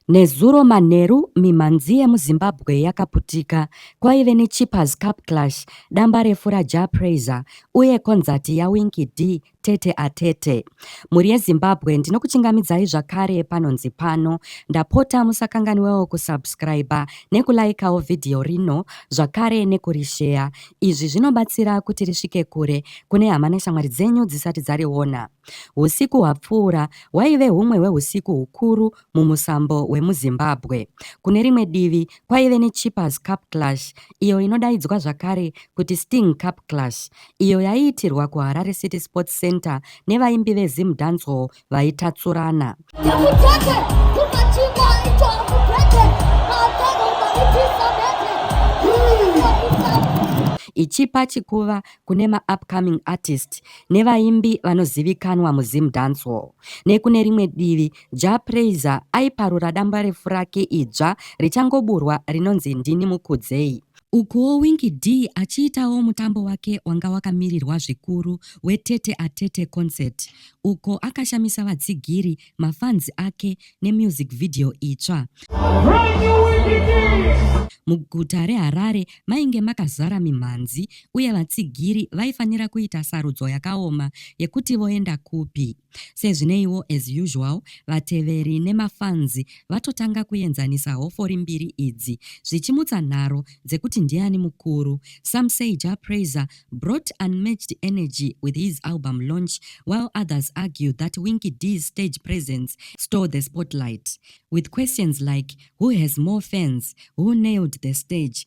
Nezuro manheru mimhanzi yemuZimbabwe yakaputika. Kwaive neChippers Cup Clash, dambarefu raJah Prayzah uye konzati yaWinky Dee Tete atete. Mhuri yeZimbabwe ndinokuchingamidzai zvakare panonzi pano. Ndapota musakanganwewo kusubscriber nekulaikawo vhidhiyo rino zvakare nekurisheya. Izvi zvinobatsira kuti risvike kure kune hama neshamwari dzenyu dzisati dzariona. Husiku hwapfuura hwaive humwe hwehusiku hukuru mumusambo wemuZimbabwe. Kune rimwe divi, kwaive neChippers Cup Clash, iyo inodaidzwa zvakare kuti Sting Cup Clash, iyo yaiitirwa kuHarare City Sports Centre nevaimbi veZim Dancehall vaitatsurana. ichipa chikuva kune maupcoming artist nevaimbi vanozivikanwa muzim dancehall nekune rimwe divi Jah Prayzah aiparura dambarefu rake idzva richangoburwa rinonzi Ndini Mukudzei. Ukuwo Winky Dee achiitawo mutambo wake wanga wakamirirwa zvikuru weTete a Tete Concert uko akashamisa vatsigiri, mafans ake nemusic video itsva. Muguta reHarare mainge makazara mimhanzi uye vatsigiri vaifanira kuita sarudzo yakaoma yekuti voenda kupi. Sezvineiwo as usual vateveri nemafanzi vatotanga kuenzanisa hofori mbiri idzi zvichimutsa nharo dzekuti ndiani mukuru. Some say Jah Prayzah brought unmatched energy with his album launch while others argue that Winky D's stage presence stole the spotlight with questions like who has more fans, who nailed the stage,